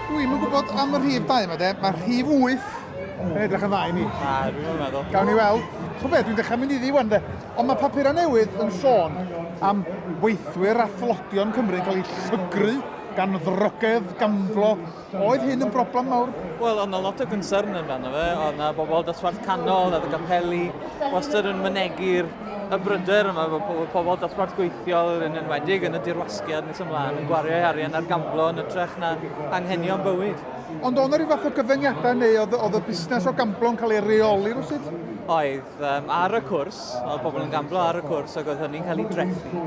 Dwi'm yn gwybod am y rhif 2 yma de, mae rhif 8 yn edrych yn dda i mi. Na, dwi'n yn meddwl. Gawn ni weld. Chw beth, dwi'n dechrau mynd iddi wan de. Ond mae papurau newydd yn sôn am weithwyr a thlodion Cymru yn cael eu llygru gan ddrogedd, gamflo Oedd hyn yn broblem mawr? Wel, oedd 'na lot o gynsyrn amdano fe. Oedd 'na bobl dosbarth canol, oedd y capeli wastad yn mynegi'r y bryder yma bod pobl, pobl dosbarth gweithiol yn enwedig yn y dirwasgiad nes ymlaen yn gwario ei arian ar gamblo yn ytrach na anghenion bywyd. Ond oedd 'na ryw fath o gyfyngiadau neu oedd, oedd y busnes o gamblo yn cael ei reoli rhywsut? Oedd, um, ar y cwrs, oedd pobl yn gamblo ar y cwrs ac oedd hynny'n cael ei drethu.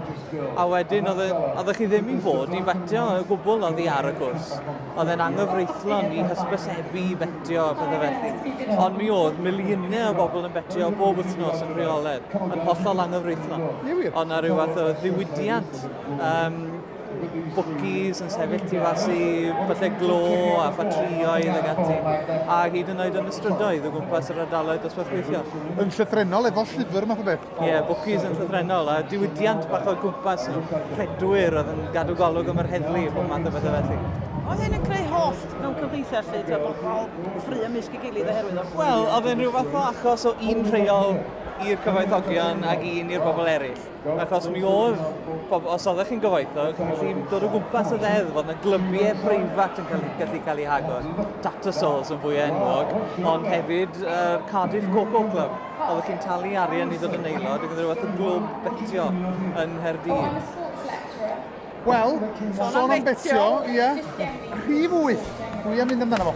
a wedyn oedd, oeddech chi ddim i fod i fetio y gwbl oedd hi ar y cwrs. Oedd e'n anghyfreithlon i hysbysebu i fetio a pethau felly. Ond mi oedd miliynau o bobl yn fetio bob wythnos yn rheoledd, yn hollol anghyfreithlon. Oedd na rhyw fath o ddiwydiant um, bwcis yn sefyll tu fas i byllau glo a ffatrioedd ag ati, a hyd yn oed yn y strydoedd o gwmpas yr ardaloedd dosbarth gweithio. Yn llythrennol efo llyfr math o beth? Ie, yeah, bwcis yn llythrenol, a diwydiant bach o gwmpas nhw, rhedwyr oedd yn gadw golwg am yr heddlu, bob math o bethau felly. Oedd hyn yn creu holl mewn cymdeithas lle, ti'n bobl ffru ymysg i gilydd oherwydd o? Wel, oedd e'n rhyw fath o achos o un rheol i'r cyfoethogion ac un i'r bobl eraill. Achos mi oedd, pobl, os oeddech chi'n gyfoethog, chi'n gallu dod o gwmpas y ddeddf, oedd yna glybiau preifat yn gallu, gallu cael eu hagor. Tattersalls yn fwy enwog, ond hefyd uh, Cardiff Coco Club. Oeddech chi'n talu arian i ddod yn aelod, ac oedd rhywbeth o glwb betio yn Nghaerdydd. Wel, sôn am betio, ie, rhif wyth, dwi am mynd amdano fo.